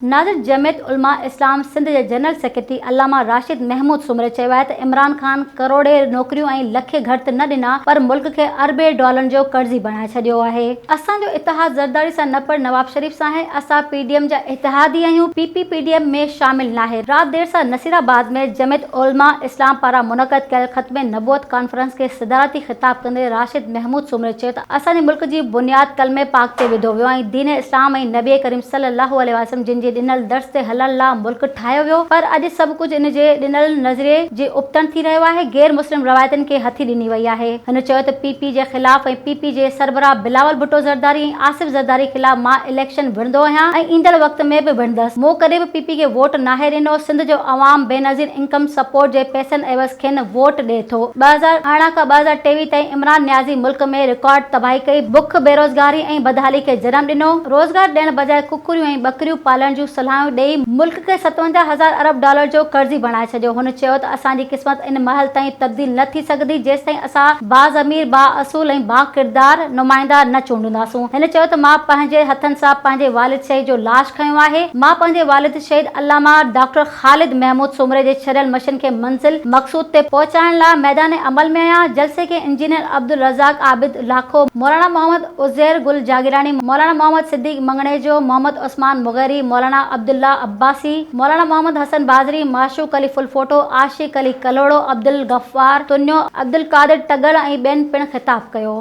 ناظر جمعيت علماء اسلام سنڌ جي general secretary علامه راشد محمود سومري چيو آهي ته عمران خان ڪروڙين نوڪريون ۽ لکين گهر ته نه ڏنا پر ملڪ کي اربين ڊالرن جو قرضي بڻائي ڇڏيو آهي. اسان جو اتحاد زرداري سان نه پر نواب شريف سان آهي، اسان پي ڊي ايم جا اتحادي آهيون، P P P D M ۾ شامل ناهي. رات دير سان نصيرآباد ۾ جمعيت علماء اسلام پاران منعقد ڪيل ختم نبوت ڪانفرنس کي صدارتي خطاب ڪندي راشد محمود سومري چيو ته اسان جي ملڪ جي بنياد ڪلمه پاڪ تي وڌو ويو ۽ دين اسلام ۽ نبي ڪريم صلي الله عليه وسلم جن جي ڏنل درس تي هلڻ لا ملڪ ٺاهيو ويو پر اڄ سڀ ڪجهه ان جي ڏنل نظريي جي ابتڻ ٿي رهيو آهي غير مسلم روايتن کي هٿي ڏني وئي آهي هن چيو ته پي پي جي خلاف ۽ پي پي جي سربراهه بلاول ڀٽو زرداري ۽ آصف زرداري خلاف مان اليڪشن وڙهندو آهيان ۽ ايندڙ وقت ۾ به وڙهندس مون ڪڏهن به پي پي کي ووٽ ناهي ڏنو سنڌ جو عوام بينظير انڪم سپورٽ جي پئسن عيوض کين ووٽ ڏئي ٿو. ٻه هزار ارڙهن کان ٻه هزار ٽيويهه تائين عمران نيازي ملڪ ۾ رڪارڊ تباهي ڪئي، بک، بيروزگاري ۽ بدحالي کي جنم ڏنو، روزگار ڏيڻ بجاء ڪڪڙيون ۽ ٻڪريون پالڻ جون صلاحيون ڏئي ملڪ کي ستونجاهه هزار ارب ڊالر جو قرضي بڻائي ڇڏيو، هن چيو ته اسان جي قسمت ان مهل تائين تبديل نه ٿي سگهندي جيستائين اسان باضمير، بااصول ۽ باڪردار نمائندا نه چونڊينداسون، هن چيو ته مان پنهنجي هٿن سان پنهنجي والد شهيد جو لاش کنيو آهي، مان پنهنجي والد شهيد علامه ڊاڪٽر. خالد محمود سومري جي ڇڏيل مشن کي منزل مقصود تي پهچائڻ لاء ميدان عمل ۾ آيا، جلسي کي انجنيئر عبدالرزاق عابد لاکو، مولانا محمد عزير گل جاگيراڻي، مولانا محمد صديق مڱڻيجو، محمد عثمان مغيري، مولانا عبدالله عباسي، مولانا محمد حسن بازري، معشوق علي ڦلڦوٽو، عاشق علي ڪلهوڙو، عبدالغفار تنيو، عبدالقادر ٽڳڙ ۽ ٻين پڻ خطاب ڪيو.